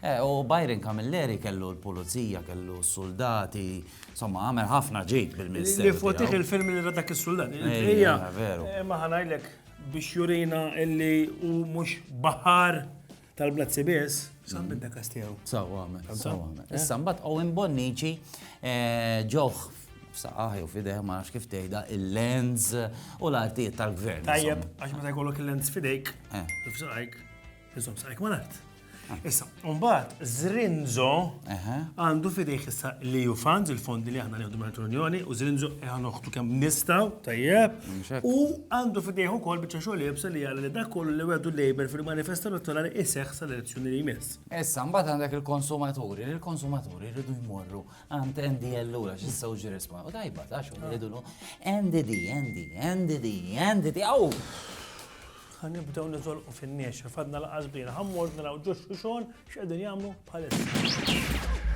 Eh, u Byron Camilleri kellu l-pulizija, kellu s-soldati, insomma, għamel ħafna ġid bil-Ministeru. Li fotih il-film li radak il-soldati. Ejja, veru. Eh, ma ħanajlek biex jurina illi u mux bahar tal-blazzi bis, sam bidda kastijaw. Saw għamel, saw għamel. Eh? Issa mbat Owen Bonnici eh, ġoħ f'saqaħi u fideh ma nafx kif tgħidha il-lens u l-artijiet tal-gvern. Tajjeb, għax meta jkollok il-lens fidejk, f'saqajk. Iżom sarek mal-art. Ah. Issa, mbagħad Zrinzo għandu fidejh issa li ju funds, il-fondi li aħna nieħdu minn l-Unjoni, u Zrinzo qiegħ noħtu kemm nistgħu tajjeb. U għandu fidejh ukoll biċċa xogħol jibsa li jara li dak kollu li wedu Labour fil-manifesto elettorali iseħħ sal-elezzjoni li jmiss. Issa, mbagħad għandek il-konsumaturi, il-konsumaturi rridu jmorru għand endi allura xi sewġi risma. U tajba, ta' xogħol jgħidulu NDD, NDD, NDD, NDD, Ħa nibdew niżolqu fin-niexef, għadna laqas bdejna, ħa mmorru naraw ġo xuxon x'qegħdin jagħmlu bħalissa.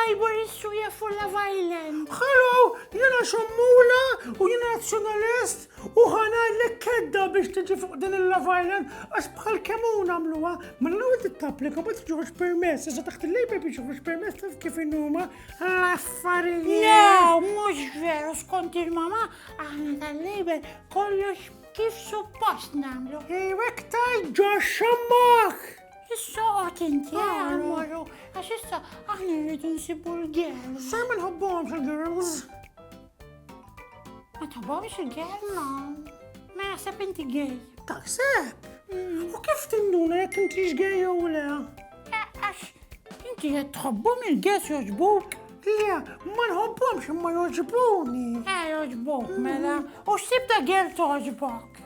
Ivor Isuja for Love Island. Hello, jena xammula u jena nazjonalist u ħana l kedda biex tiġi fuq din il-Love Island għax bħal kemun għamluwa. Ma l-għu t-tapplika ma t-ġuħx permess, sa taħt il-lejba biex ġuħx permess taf kif innuma L-affarijiet. Le, mhux veru skont il-mama aħna tal-label kollox kif suppost nagħmlu. Iwek taj ġo xammak. Issa għat inti għamlu, għax issa aħna rridu nsibu l-girls. Sa' minn ħobbom fil-girls. Ma tħobbhomx il-gay? Ma. Ma jaħseb inti gay. Taħseb? Mm. U kif tinduna jekk intix gay jew le? Għax inti qed tħobbhom il-gay joġbuk? Le, ma nħobbhomx imma joġbuni. Eh, joġbuk, mela. Mm. U x'tib ta' gay toġbok?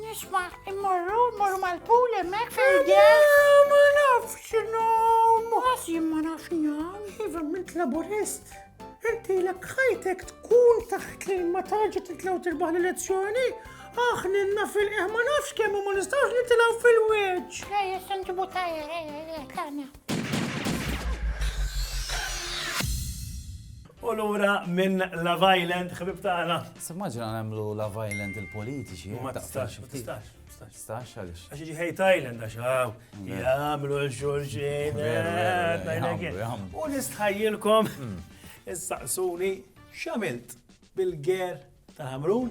Nisma, immorru, immorru mal-pool emmek fil-għel. Ma nafx nom. Għasim ma nafx nom. Iva, mint laburist. Inti l ħajtek tkun taħt li ma tarġa titlaw tirbaħ l-elezzjoni. Aħninna fil-qeħ ma nafx kemm ma nistawx nitilaw fil-weġ. Ejja, sanġibu tajja, ejja, ejja, U lura minn Love Island, ħbib tagħna. Simmaġina nagħmlu Love Island il-politiċi. Ma tistax, ma tistax. Stax għalix. Għax iġi Hate Island għax għaw, jgħamlu l-xurxin. U nistħajilkom, hmm. issaqsuni xamilt bil-ger ta' Hamrun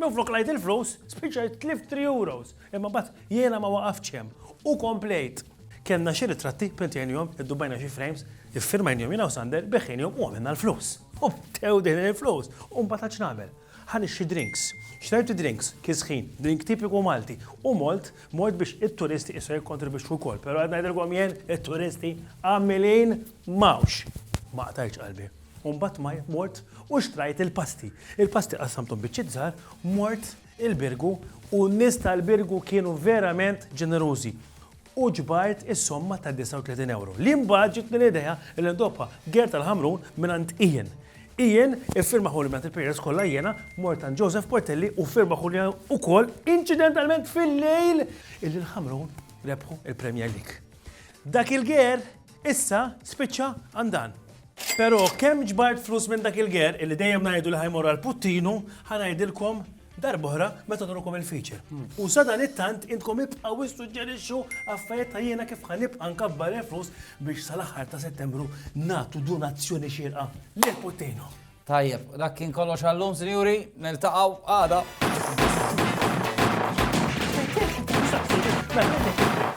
Minflok ngħid il-flus, spiċċajt tlift three euros, imma mbagħad jiena ma waqaftx hemm u komplejt. Kellna xi ritratti, printajnihom, iddubbajna xi frames, iffirmajnihom jiena u Sander, beħħejnihom u għamilna l-flus. U bdew dejħlin il-flus u mbagħad għad x'nagħmel? Ħa nixtri drinks. Xtrajt id-drinks, kisħin, drink tipiku Malti, u mort, mort biex it-turisti issa jikkontribwixxu wkoll, però qed ngħidilkom jien, it-turisti għamilin m'hawnx. Ma qtajtx qalbi. U mbagħad mort u xtrajt il-pasti. Il-pasti qassamthom biċċiet żgħar, mort il-Birgu u n-nies tal-Birgu kienu verament ġenerużi u ġbart is-somma ta' 39 ewro. Li mbagħad ġitni l-idea li ndobha Gert tal-Ħamrun mingħand Ian. Ian iffirmaħu li mingħand il-players kollha jiena mort għand Joseph Portelli u ffirmaħu li wkoll inċidentalment fil-lejl illi l-Ħamrun rebħu l-Premier League. Dak il-Ger Issa spiċċa għand dan. Però kemm ġbart flus minn dak il-ger illi dejjem ngħidu li ħa jmorru għal Puttinu, ħa ngħidilkom darb'oħra meta nurukom il-feature. U sadanittant intkom ibqgħu issuġġerixxu affarijiet ta' jiena kif ħa nibqa' nkabbar il-flus biex sal-aħħar ta' Settembru nagħtu donazzjoni xierqa lil Puttinu. Tajjeb, dak kien kollox għallum, sinjuri, niltaqgħu għada.